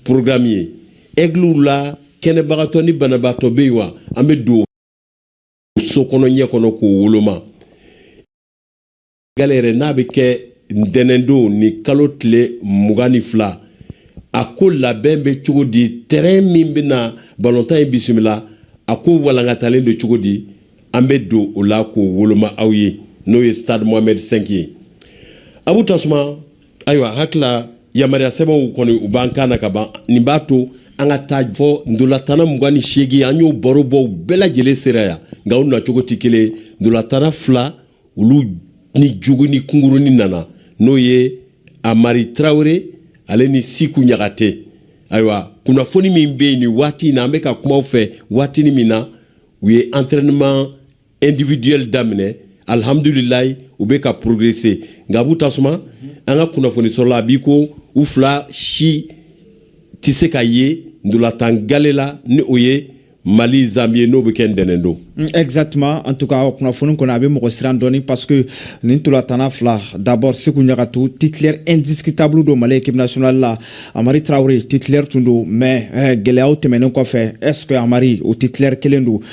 porogramu ye ɛgliw la kɛnɛbagatɔ ni banabaatɔ bɛ yen wa an bɛ don so kɔnɔ ɲɛ kɔnɔ k'o woloma gale yɛrɛ n'a bɛ kɛ ntɛnɛndon ni kalo tile mugan ni fila a ko labɛn bɛ cogo di tɛrɛn min bɛna balontan in bisimila a ko walankatalen don cogo di an bɛ don o la k'o woloma aw ye n'o ye stade mohamɛd 5 ye abu tasuma ayiwa hakili yamaruya sɛbɛnw kɔni u b'an kan na ka ban nin b'a to an ka taa fɔ ntolatanna mugan ni seegin an y'o baro bɔ u bɛɛ lajɛlen sera yan nka u nacogo tɛ kelen ntolatanna fila olu ni joginni kunkuruni nana n'o ye amari tarawele ale ni siku ɲakate ayiwa kunnafoni min bɛ yen nin waati in na an bɛ ka kuma aw fɛ waatinin min na u ye entraînement individuel daminɛ alhamdulilayi u bɛ ka progresser nka abu tasuma an ka kunnafoni sɔrɔla a b'i ko u fila si tɛ se ka ye ntolatan gale la ni o ye mali zanbi ye n'o bɛ kɛ ntɛnɛn don mm, exactement en tout cas kunnafoni kɔni a bɛ mɔgɔ siran dɔɔni parce que nin ntolatanna fila d'abord siku ɲakate titulaire indiscutable don mali équipe nationale la amari traore titulaire tun don mais eh, gɛlɛyaw tɛmɛnen kɔfɛ est ce que amari o titulaire kelen don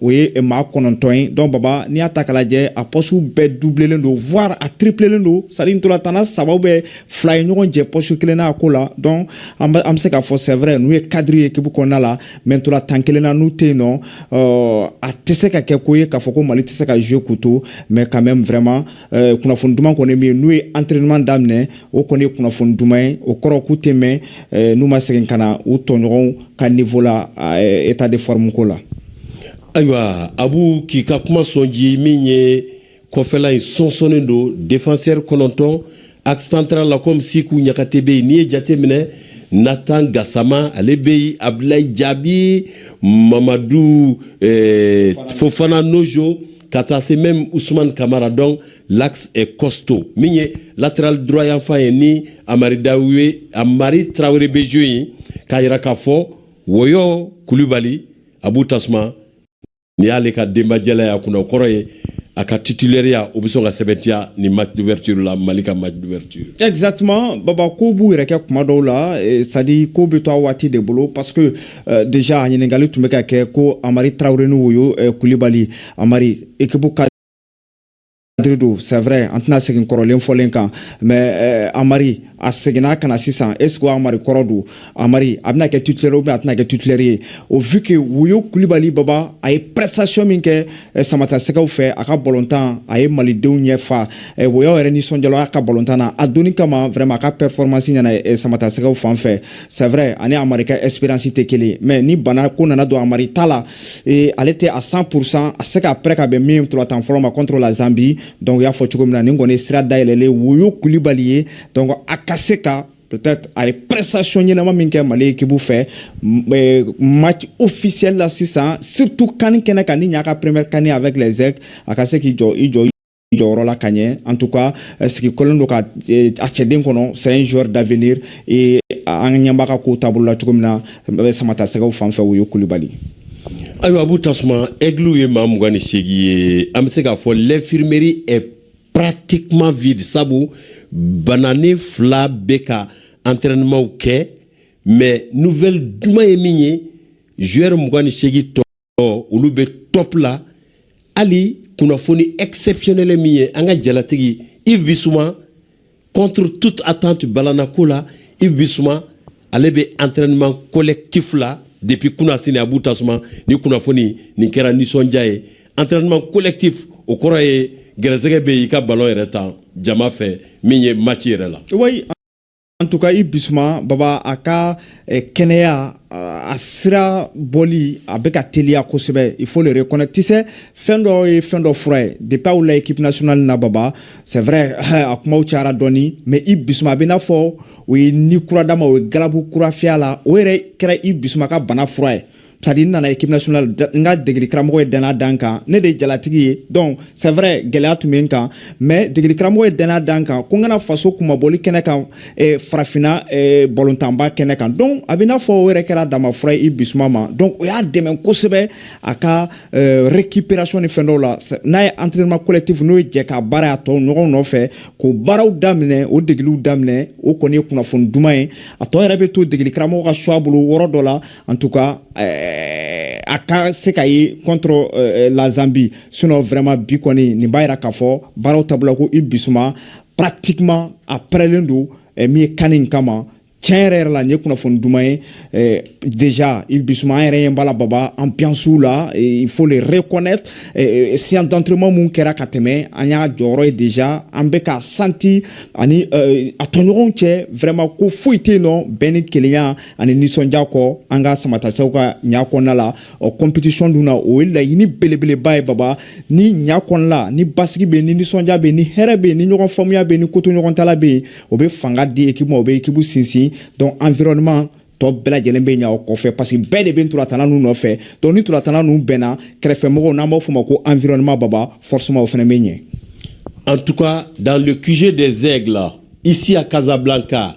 o ye maa kɔnɔntɔn ye donc baba n'i y'a ta k'a lajɛ a pɔsiw bɛɛ dublelen don voire a triplelen don c'est à dire ntolatanna saba ou bien fila ye ɲɔgɔn jɛ pɔsi kelen na a ko la donc an bɛ se k'a fɔ c'est vrai n'u ye kadiri ye ekipu kɔnɔna la mais ntolatan kelen na n'u tɛ yen non a tɛ se ka kɛ ko ye k'a fɔ ko mali tɛ se ka jouer du tout mais quand même vraiment Eh, kunnafoni duman kɔni min n'u ye entraînement daminɛ o kɔni ye kunnafoni duman ye o kɔrɔ k'u tɛ mɛɛn eh, n'u ma segin ka na u tɔɲɔgɔnw ka niveau la eh, état de forme ko la ayiwa abu k'i ka kuma sɔn ji min ye kɔfɛla in sɔnsɔnnen don défenseur kɔnɔntɔn axe central la comme siku ɲakate bɛ yen n'i ye jate minɛ natan gasama ale bɛ yen abdulayi jaabi mamadu eh, fofana nojo ka taa se même Ousmane Kamara donc l'axe est costaud min ye latéral droit yanfan ye ni Amari Dawe Amari Traoré bɛ jeu in k'a jira k'a fɔ Woyo Kulibali Abu Tasuma ni y'ale ka denbajɛla y'a kunna o kɔrɔ ye a ka titulaireya o bɛ sɔn ka sɛbɛntiya nin match d'ouverture la Mali ka match d'ouverture. Exactement baba kow b'u yɛrɛ kɛ tuma dɔw la c'est à dire ko bɛ to a waati de bolo parce que Eh, déjà ɲininkali tun bɛ ka kɛ ko amari tarawele ni woyo eh, kulibali amari ekipu ka don c'est vrai an tɛna segin kɔrɔlen fɔlen kan mais eh, amari a seginna ka na sisan est ce que amari kɔrɔ don amari a bɛna kɛ titulaire ou bien a tɛna kɛ titulaire ye au vu que woyo kulibali baba a ye prestation min kɛ samatasɛgɛw fɛ a ka balontan a ye malidenw ɲɛ fa woyo yɛrɛ nisɔndiyala a ka balontan na a donni quand même vraiment a ka performance ɲɛna samatasɛgɛw fan fɛ c'est vrai ani amari ka expérience tɛ kelen mais ni bana ko nana don amari ta la eh, ale tɛ à cent pour cent a se ka prêt ka bɛn nin ntolatan fɔlɔ ma contre la Zambie donc y'a fɔ cogo min na nin kɔni sira dayɛlɛlen woyo kulibali ye donc a ka se ka peut-être a ye prestation ɲɛnama min kɛ mali ekibu fɛ eh, match officiel la sisan surtout kani kɛnɛ kan nin y'a ka première kani avec les aigles a ka se k'i jɔ i jɔ jɔyɔrɔ la ka ɲɛ en tout cas eh, sigi kɔlen don ka eh, a cɛden kɔnɔ c'est un joueur d'avenir et an ɲɛ b'a ka kow taabolo la cogo min na eh, samatasɛgɛw fan fɛ woyo kulibali ayiwa abu tasuma aigliw ye maa mugan ni seegin ye an bɛ se k'a fɔ l'infirmerie est pratiquement vide sabu bananen fila bɛ ka entraînement kɛ mais nouvelle duman ye min ye joueur mugan ni seegin tɔ ɔ olu bɛ top la hali kunnafoni exceptionnel min ye an ka jalatigi Yves Bissouma contre toute attente balanako la Yves Bissouma ale bɛ entraînement collectif la depuis kunasini abu tasuma ni kunnafoni nin kɛra nisɔndiya ye entraînement collectif o kɔrɔ ye gɛrɛsɛgɛ bɛ i ka ballon yɛrɛ tan jama fɛ min ye match yɛrɛ la. En tout cas Yves Bissouma baba a ka eh, kɛnɛya a sira boli a bɛ ka teliya kosɛbɛ il faut le reconnaître c'est fɛn dɔ ye fɛn dɔ fura ye depuis aw la équipe nationale na baba c'est vrai a kumaw cayara dɔɔni mais Yves Bissouma a bɛ n'a fɔ o ye ni kura d'a ma o ye galabu kura fiy'a la o yɛrɛ kɛra Yves Bissouma ka bana fura ye c'est-à-dire n nana équipe nationale n ka degeli karamɔgɔ ye dannaya da n kan ne de ye jalatigi ye donc c'est vrai gɛlɛya tun bɛ n kan mais degeli karamɔgɔ ye dannaya da n kan ko n ka na faso kunmabɔli kɛnɛ kan eh, farafinna eh, balɔntanba kɛnɛ kan donc a bɛ n'a fɔ o yɛrɛ kɛra bana fura ye Yves Bissouma ma donc o y'a dɛmɛ kosɛbɛ a ka eh, récupération ni fɛn dɔw la n'a ye entraînement collectif n'o ye jɛkabaara a tɔɲɔgɔn nɔfɛ k'o baaraw daminɛ o degeliw daminɛ o kɔni ye kunnafoni duman ye a tɔ yɛrɛ bɛ to degeli karamɔgɔ ka choix bolo yɔrɔ dɔ la an tun ka a ka se ka ye kɔntɔ lazsabi sun wɛrɛma bi kɔni nin b'a jira k'a fɔ baaraw ta la ko i bisimila suma patima a pɛlen don min ye kan in kama tiɲɛ yɛrɛ yɛrɛ la n ye kunnafoni dumanuma ye dez i bisimila suma yɛrɛ ye bala baba an biyansiw la fo de re kɔnɛ siyɛntanturuma minnu kɛra ka tɛmɛ an y'a jɔyɔrɔ ye dez an bɛ ka santi ani a tɔɲɔgɔnw cɛ wɛrɛma ko foyi tɛ yen nɔ bɛn ni kelenya ani nisɔndiya kɔ an ka samatasɛgɛw ka ɲaa kɔnɔna la ɔ compétition dun na o ye laɲini belebeleba ye baba ni ɲaa kɔnɔ la ni basigi bɛ ni nisɔndiya bɛ ni hɛrɛ bɛ ni ɲɔgɔn faamuya bɛ ni kotoɲɔgɔntala bɛ yen o bɛ fanga di ekipu ma o bɛ ekipu sinsin donc environnement tɔ bɛɛ lajɛlen bɛ ɲa o kɔfɛ parce que bɛɛ de bɛ ntolatanna ninnu nɔfɛ donc ni ntolatanna ninnu bɛnna kɛrɛfɛmɔgɔw n'an b'a fɔ ma ko environnement baba forcément o fana bɛ ɲɛ en tout cas dans le QG des aigles ici à Casablanca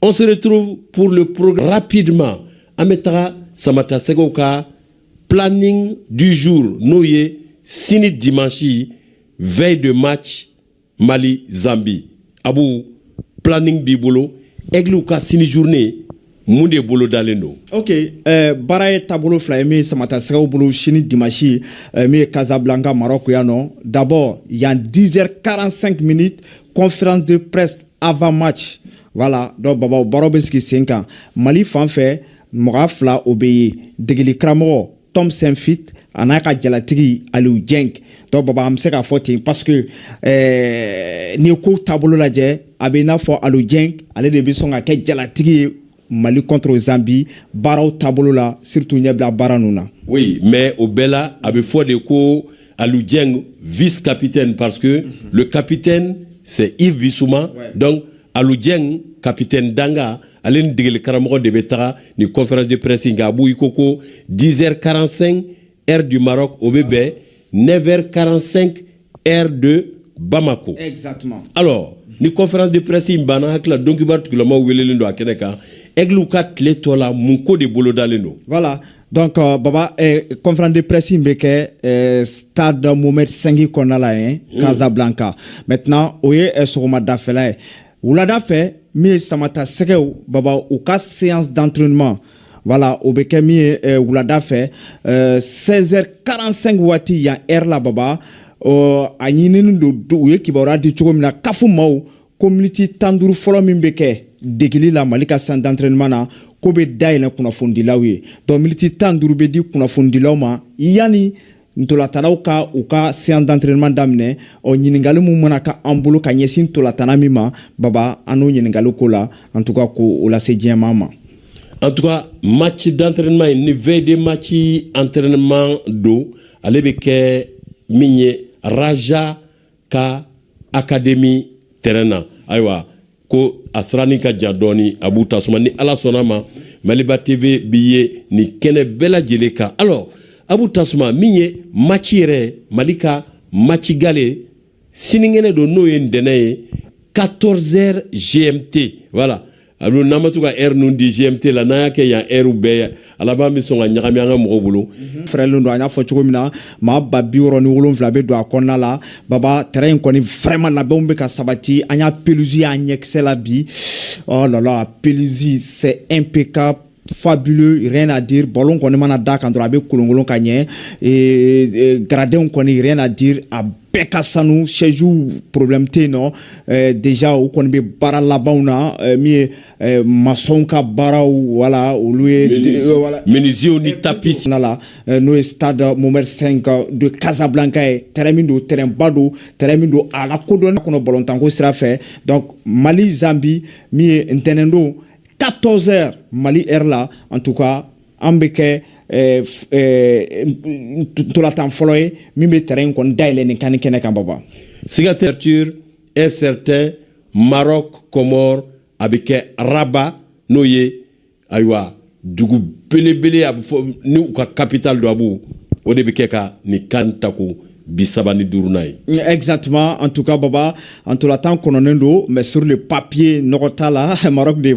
On se retrouve pour le programme rapidement. An bɛ taga Samata Sɛgɛw ka planning du jour n'o ye sini dimanche veille de match Mali Zambie. Abu planning b'i bolo Aiglew ka sini journée mun de bolodalen don. Ok ɛɛ baara ye taabolo fila ye min ye Samata Sɛgɛw bolo sini dimanche ɛɛ min ye Casablanca Maroc yan nɔ d'abord yan 10 heures 45 minutes conférence de presse avant match voilà donc baba o baro bɛ sigi sen kan mali fan fɛ mɔgɔ fila o bɛ ye degeli karamɔgɔ Tom Saintfiet an'a ka jalatigi Aliou Dieng donc baba an bɛ se k'a fɔ ten parce que eh, n'i ye kow taabolo lajɛ a bɛ i n'a fɔ Aliou Dieng ale de bɛ sɔn ka kɛ jalatigi ye Mali contre Zambie baaraw taabolo la surtout ɲɛbila baara ninnu na. Oui mais o bɛɛ la a bɛ fɔ de ko Alou Dieng vice capitaine parce que mm -hmm. le capitaine c'est Yves Bissouma ouais. donc Alou Dieng capitaine dankan ale ni degeli karamɔgɔ de bɛ taga nin conférence de presse in kan Abu i ko ko 10h45 heure du Maroc o bɛ bɛn 9h45 heure de Bamako. Exactement. Alors ni conférence de presse in banna hakili la donkibaru tigilamaw welelen don a kɛnɛ kan aiglew ka tile tɔ la mun ko de bolodalen don. Voilà. Donc euh, baba eh, conférence de presse in bɛ kɛ eh, stade Mohamed V kɔnɔna la yen mm. Casablanca. Maintenant o ye eh, sɔgɔmadafɛla ye. wulada fɛ min ye samata sɛgɛw baba u ka séance d'entraînement voilà o bɛ kɛ min ye eh, wulada fɛ 16h45 eh, waati yan heure la baba oh, a ɲinini don u ye kibaruya di cogo min na CAF maaw ko miniti tan duuru fɔlɔ min bɛ kɛ degeli la mali ka séance d'entraînement na k'o bɛ dayɛlɛ kunnafonidilaw ye donc miniti tan duuru bɛ di kunnafonidilaw ma yanni ntolatannaw ka u ka séance d'entraînement daminɛ ɔ ɲiningaliw min mana kɛ an bolo ka ɲɛsin ntolatanna min ma baba an n'o ɲiningaliw k'o la en tout cas k'o lase diɲɛmaa ma en tout cas match d'entraînement in ni veille de match entraînement don ale bɛ kɛ min ye raja ka akademi tɛrɛn na ayiwa ko a siranin ka jan dɔɔni Abu Tasuma ni ala sɔnna a ma maliba tv bi ye nin kɛnɛ bɛɛ lajɛlen kan alors Abu Tasuma min ye maci yɛrɛ mali ka maci galɛ sininkɛnɛ don n'o ye ntɛnɛn ye 14 heures gmt voilà a don n'an ma to ka ɛri ninnu di gmt la n'an y'a kɛ yan ɛriw bɛɛ a laban bɛ sɔn ka ɲagami an ka mɔgɔw bolo mhm. fɛrɛlen don an y'a fɔ cogo min na maa ba biwɔɔrɔ ni wolonwula bɛ don a kɔnɔna la baba tɛrɛn in kɔni vraiment labɛnw bɛ ka sabati an y'a pelusi y'an ɲɛkisɛ la bi oh là là pelusi c'est impeccable fabuleux rien à dire ballon kɔni mana da a kan dɔrɔn a bɛ kolonkolon ka ɲɛ gradinw kɔni rien à dire a bɛɛ ka sanu sɛziw problème tɛ yen nɔ eh, déjà u kɔni bɛ baara labanw na eh, min ye eh, masɔnw ka baaraw wala olu ye minisiw ni tapis na la n'o ye stade Mohammed 5 de casablanca ye terrain min don terrain ba don terrain min don a lakodɔnnen don balontanko sira fɛ donc mali zambi min ye ntɛnɛndon 14 heures Mali heure la en tout cas a bɛ kɛ eh, eh, ntolatan fɔlɔ ye min bɛ terrain in kɔni dayɛlɛ nin CAN in kɛnɛ kan baba. Siga ouverture un certain Maroc Comores a bɛ kɛ Rabat n'o ye ayiwa dugu belebele a bɛ fɔ ni u ka capitale don a b'o o de bɛ kɛ CAN in CAN tako bi saba ni duurunan ye. Mm, exactement en tout cas baba ntolatan kɔnɔnen don mais sur le papier nɔgɔ t'a la Maroc de